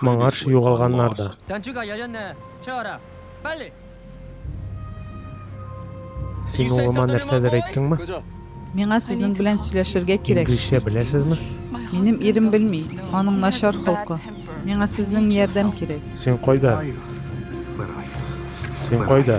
Моңарчы югалганнар да. Син улыма нәрсәдер әйттеңме? Миңа сезнең белән сөйләшергә кирәк. Инглизчә беләсезме? Минем ирем белми, аның начар холкы. Миңа сезнең ярдәм кирәк. Син кайда? Син кайда?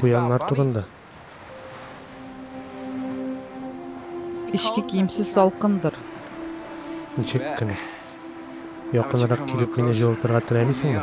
Куяннар турында. Эшке киемсез салкындыр. Ничек кенә. Якынрак килеп мине җылытырга теләмисеңме?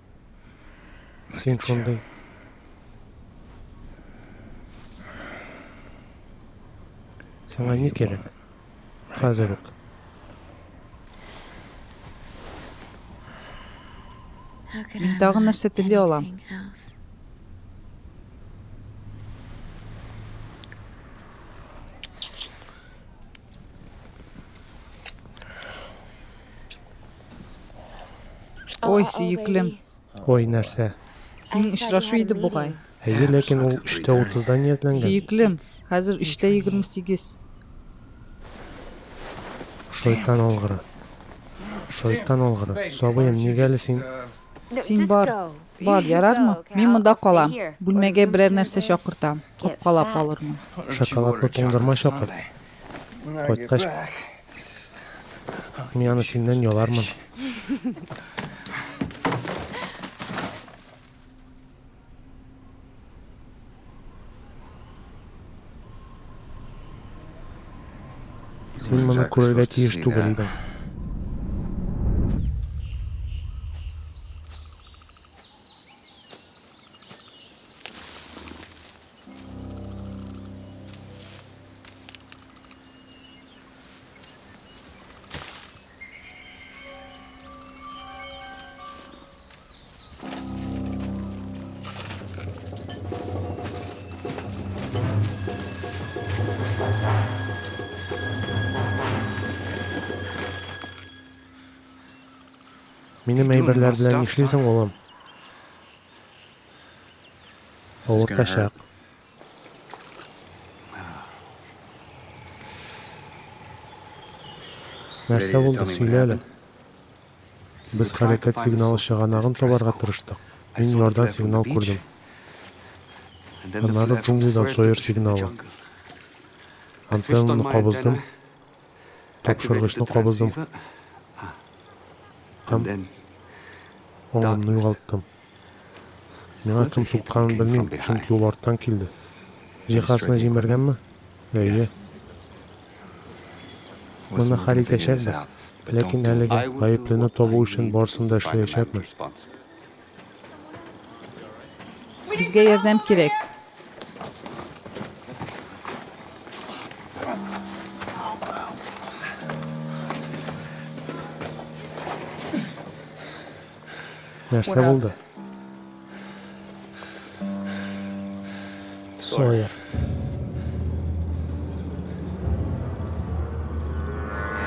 Син шундый. Сиңа ни кирәк? Хәзер үк. Мин тагын нәрсә тели алам? Ой, сөеклем. Ой, нәрсә? Син очрашу иде бугай. Әйе, ләкин ул 3:30-да ниятләнгән. Сөеклем, хәзер 3:28. Шайтан алгыры. Шайтан алгыры. Сабыем, нигә әле син? Син бар. Бар, ярармы? Мин монда калам. Бүлмәгә берәр нәрсә чакыртам. Капкалап алырмын. Шоколадлы туңдырма чакыр. Кайткач, мин аны синнән ялармын. Син моны күрергә тиеш түгел идең. Минем әйберләр белән нишлисең, улым? Авыртачак. Нәрсә булды, сөйлә әле. Без хәрәкәт сигналы чыганагын табарга тырыштык. Мин ярдан сигнал күрдем. Аннары джунглидан Сойер сигналы. Антеннаны кабыздым. Тапшыргычны кабыздым. Һәм оңымны югалттым. Миңа кем сукканын белмим, чөнки ул арттан килде. Җиһазны җимергәнме? Әйе. Моны хәл итәчәкбез. Ләкин әлегә гаеплене табу өчен барысын да эшләячәкмен. Безгә ярдәм кирәк. нәрсә булды сойер